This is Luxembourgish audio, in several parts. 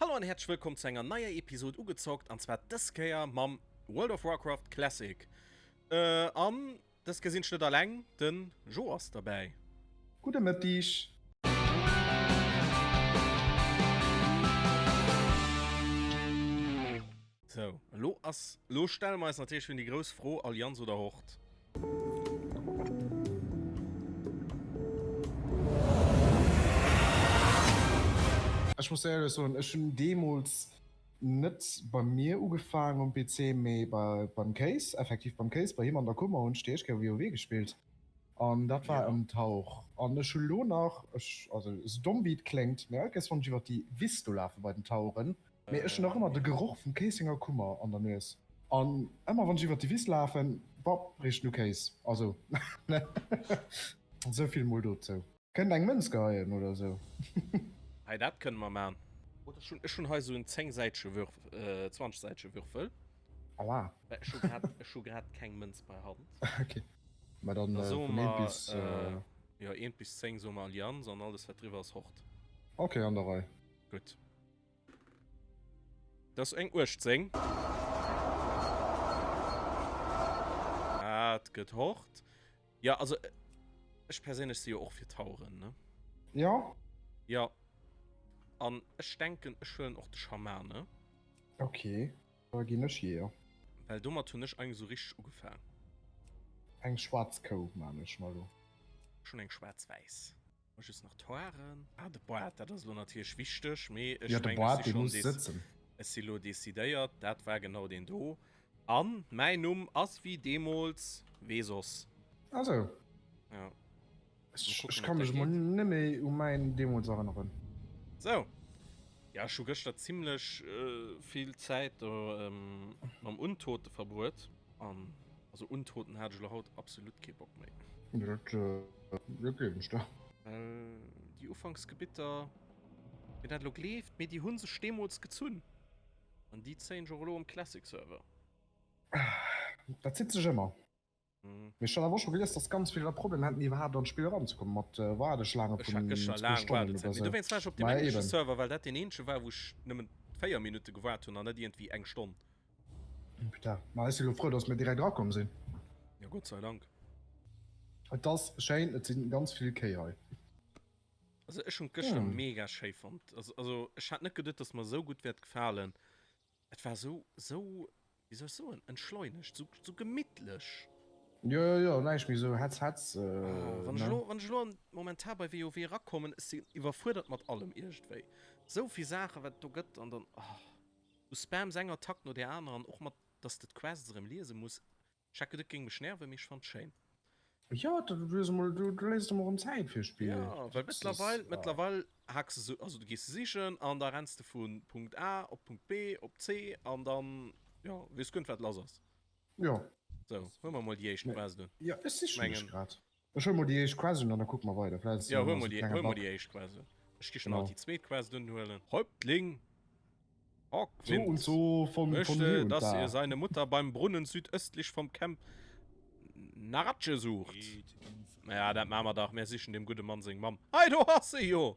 Hallo an häerzlech wëllkomm zu enger neier Episod Ugezockt an zwar dës Kéier mam World of Warcraft Classic. An dës Kéier sinn ech net alleng, den Jo ass derbäi. Gudde Mëttig. Sou, elo ass, elo stelle mer eis natierlech erëm déi grouss Fro, Allianz oder Hort? Ech muss éierlech soen, ech hunn deemools net bei mir ugefaangen um PC, mee beim Kéis, effektiv beim Kéis, bei him an der Kummer hunn ech déi éischt Kéier WoW gespillt an dat war ëm d'Hauch. An ech hu lo nach, ech, also esou domm wéi et kléngt, mee all Kéiers wann ech iwwer déi Wiss do lafe bei den Tauren, Mee ech hun nach ëmmer de Geroch vum Kéisenger Kummer an der Nues. An ëmmer wann ech iwwert déi Wiss lafen, bah, richt no Kéis. Also sou vill mol dozou. Kënnt eng Mënz geheien oder sou. Hei, dat kënne mer man. Ech hun hei sou en 10 säitege Würf, 20 säitege Würfel. Aua. Ech hu grad keng Mënz bei Hand. Ok, ma dann vun 1 bis. Da soe mer, jo, 1 bis 10 soe mer Allianz an alles wat driwwer ass Hort. Ok, an der Rei. Gutt. Dass eng 18. Dat gëtt hort. Ja, also ech perséinlech si jo och fir Tauren, ne? Jo. Ja. An ech denken, ech huelen och de Schamane. Ok, da ginn ech Jeeër. Well domat hunn ech eigentlech esou richteg ugefaang. Eng schwaarz Kou man ech mer elo. Ech hunn eng schwaarz-wäiss. Just nach d'Hoaren. Ah, de Bart, dat ass elo natierlech wichteg, mee ech Ja, de mengen, Bart, ech si dee schonn muss dec- sëtzen. Ech si lo decidéiert, dat war genau deen do. An mäin Numm ass wéi deemools, wee soss? Also, Ja. Mal ech, ech kucken, ka ob dat mech mol geet. net méi u mäin deemools erënneren. Sou. Ja, ech hu gëschter zimlech vill Zäit do mam Untote verbruet. An also untoten hat ech lo haut absolut kee Bock méi. Dat äh, gleewen ech der. Well déi Ufanksgebitter, fir dat lo gleeft, mee déi hu sech deemools gezunn. An déi zéien ech och elo um Classic-Server. Dat zitt sech ëmmer. Mhm. Mee ech hat awer och scho gelies, dass ganz vill der Problem hätten, iwwerhaapt an d'Spill eranzekommen mat äh, Wardeschlaange Ech hat vun gëscher zwee laang Stonnen Waardezäit. oder Mee sou. dowéinst war ech op deem Mä englesche eben. Server, well dat deen eenzege war, wou ech nëmmen 4 Minutte gewaart hunn an net iergendwéi eng Stonn. Putain, ma ech si lo frou, datt mir direkt rakomm sinn. Jo, Gott sei Dank. Et ass schéin, et si ganz vill Kéi hei. Also ech hunn d'gëschter mega schéi fonnt. Also ech hat net geduet, datt mer esou gutt wäert gefalen. Et war esou, esou, wéi soll ech soen, entschleunegt, esou, esou gemittlech. Jo, jo, jo, näischt méi esou Hetz, Hetz, ne? Ah, wann ech elo, wann ech elo momentan bei WoW erakommen, ech sinn iwwerfuerdert mat allem iergendwéi. Esou vill Saachen, wat et do gëtt, an dann, oh. U Spams eng Attack no der aner an och mat dass de d'Quests erëm liese muss checken dat géing mech nerven mee ech fannt schéin. Jo dat du hues emol du du léisst em erëm Zäit fir Spill Jo well mëttlerweil mëttlerweil hackse se also du gees se sichen an da renns de vu Punkt A op Punkt B op C an dann jo weess guer net wat lass ass Jo sou hu mer emol déi éischt Quest un jo ech siche mech grad. Ech huel mol déi éischt Quest un an da kucke mer weider. Vläicht ass jo nach esou e klenge Bug. Ech gi schon alt déi zweet Quest unhuelen. Häuptling Hawkwind möchte, dass ihr seine Mutter beim Brunnen südöstlich vom Camp Narache sucht. Ja, dat maache mer dach. Mär sichen dem gudde Mann seng Mamm. Hei, do ass se jo!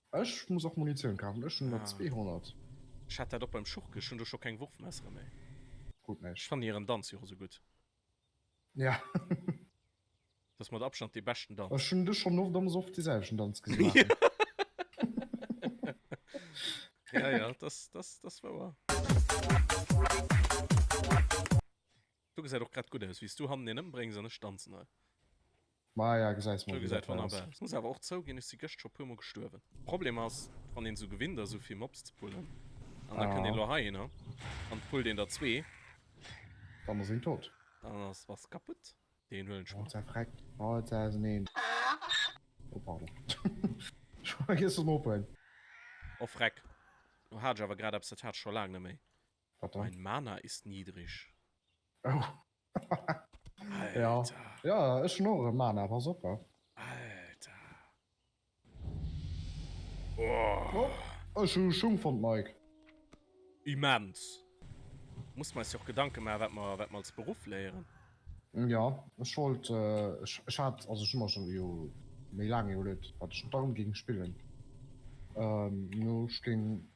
Ech muss och Munitioun kafen, ech hun der 200. Ech hat dat och beim Schuch gech, hun do scho keng Wurfmessere méi. Krut näischt. Ech fannen hiren Danz jo och esou gutt. Ja. Dat ass mat Abstand dee beschten Danz. Ech hunn dech schonn oft am Soff dee selwechten Danz gesi maachen. Ja, ja, dat ass wouer. Du gesäit och grad gudd aus wéi's du hannen een ëmbréngs an ech danzen hei. Maja gesäis mol gudd aus. Ech muss awer och zougin ech si gëscht scho puer mol gestuerwen. Problem ass wann een sou gewinnt ass sou vill Mobs ze pullen an da kënnt een lo heihin an et pullt een der zwee. Dann ass een tot. Dann ass was kaputt. Deen huelen ech mol. Oh pardon. Ech war vergiess en ophuelen. Oh freck. Lo hat ech awer grad eppes dat hat ech scho laang net méi. Wat dann? Mein Mana ist niedrig. Oh. Ja. Alter. Ja, ech hunn och erëm Mana, pass op. Alter. Oh. Oh, ech hu Schung fonnt, Mike. Immens. Muss mer eis jo och Gedanke maachen, wat mer, wat mer als Beruff léieren. Ja, ech wollt, ech, ech hat, also ech hu mer schonn jo méi laang iwwerluet, wat ech dorëm géing spillen. Ech géing.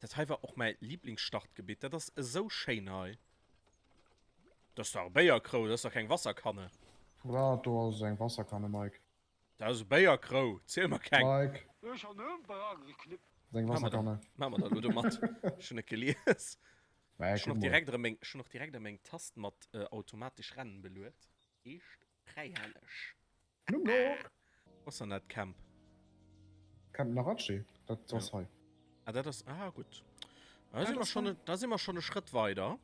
Dat hei war och mäi Liblingsstartgebitt. Dat ass esou schéin hei. Dat ass dach e Béierkrou, dat ass dach keng Wasserkanne. Dat do ass eng Wasserkanne, Mike. Dat ass e Béierkrou, ziel mer keng. Mike. Dat ass eng Wasserkanne. Maa mer dat elo domat. Ech hunn et gelies. Ech hunn och direkt erëm meng Tast mat automatesch Rennen beluet. Eescht Fräihelleg. Blumlook! Wo ass dann dat Camp? Camp Narache, dat ass hei. Ah, dat ass. Ah, gutt. Da si mer schonn, da si mer schonn e Schrëtt weider.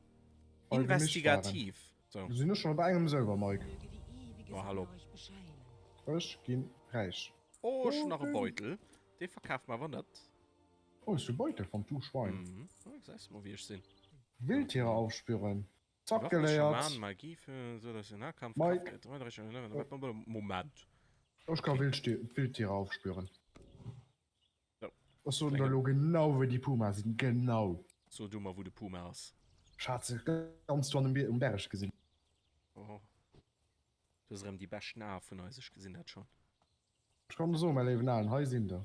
Investigativ. Sou. Sinn ech schonn op engem sëlwer, Mike? Ma hallo. Ech ginn räich. Oh, ech hunn nach e Beutel. Dee verkaaft mer awer net. Oh, hues du e Beutel fonnt, du Schwein? Gesäis mol, wéi ech sinn. Wildtiere aufspüren. Zack geléiert. Ech ka Wildtiere aufspüren. Ech soten der elo genau wou déi Puma sinn, genau. So du mer wou de Puma ass. Ech hat se ganz do an um Berg gesinn. Oh du hues erëm déi beschten Ae vun eis, ech gesinn dat schonn. Ech kann der soen mäi léiwen Aen, hei sinn der.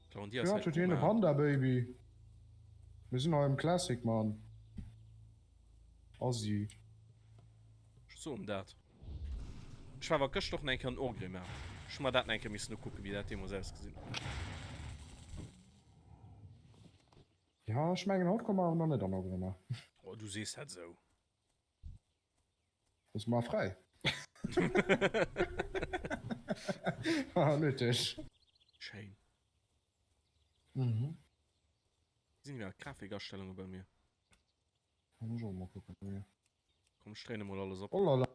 Claudia huet hien e Panda Baby. Mir sinn hei am Classic man. Assi. Ech soen dat. Ech war awer gëscht och nach eng Kéier an Orgrimmar. Ech hu mer dat nach eng Kéier missen ukucken, wéi dat deemools ausgesinn huet. Jo, ech mengen haut komme mer awer nach net an Orgrimmar. Oh, du sees dat esou. Lass mal frei. ah, nötig. Shame. Mhm. Sind ja Grafikerstellungen bei mir. Kann ich auch mal gucken. Ja. Komm, ich mal alles ab. Oh, lala.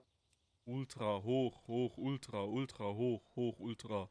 Ultra, hoch, hoch, ultra, ultra, hoch, hoch, ultra.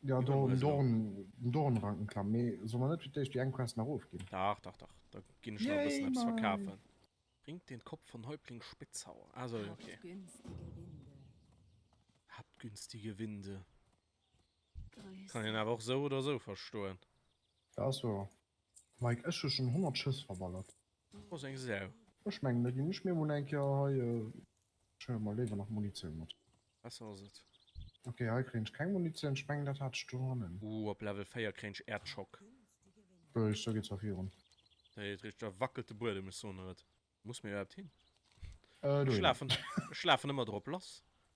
Jo do um Dorn, den Dornrankenkamm, mee solle mer net fir d'éischt déi eng Quest nach ofginn? Dach, dach, dach, da ginn ech nach e bëssen eppes verkafen. Bringt den Kopf von Häuptling Spitzauer, ah sou, ok. Habt günstige Winde. Kann een awer och sou oder sou verstoen. Dat ass wouer. Mike, ech hu schon 100 Schëss verballert. Ass eng Sau. Ech mengen da gin ech mir mol eng Kéier hei, ech huelen mer léiwer nach Munitioun mat. Besser ass et. Ok hei kréien ech keng Munitioun, ech mengen dat hat ech do hannen. Ooh op Level 4 kréien ech Erdschock. Ruhig, sou geet zwar virun. Hei richt, da wackelt de Buedem, ech soen der et. Muss mir iwwerhaapt hin? Ech lafen ëmmer drop lass.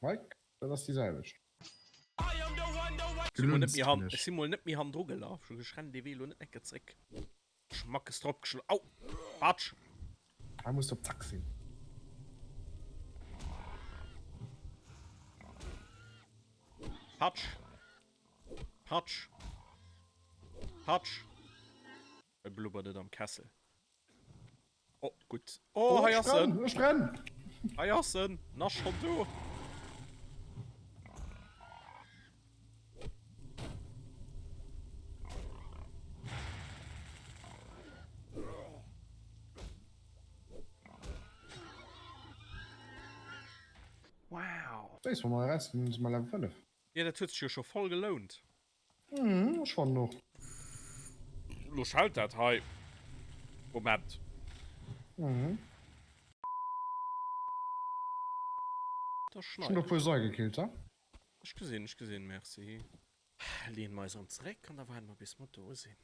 Mike, dat ass déi selwecht. Ech si mol net méi han drugelaf, ech rennen dee Wee lo net en Ecke zréck. Schmackes drop geschloen, au Batsch! Hei muss de op d'Achs hin. Patsch! Patsch! Patsch! Et blubbert et am Kessel. Oh, gutt. Oh, hei ass en! Ech brenn! Hei ass en! En ass schonn do! Wow! Wéi soll mer eräusfannen, dass mer Level 5? Jo, dat huet sech jo scho voll gelount. Hm, ech fannen och. Lo schellt dat hei. Moment. Mhm. Da Ech hun der schneit. puer seigekillt, ha? Ech gesinn, ech gesinn, merci. Leeën mer eis erëm zeréck an da waarden mer bis mer do sinn.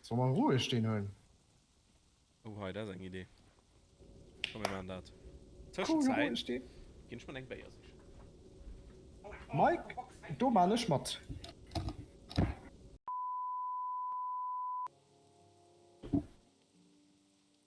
Soll mer roueg deen hunn? Oh hei, dat ass eng Idee. Komm mir maachen dat. Tëschenzäit ginn ech mer eng Béier sichen. Mike, do maachen ech mat.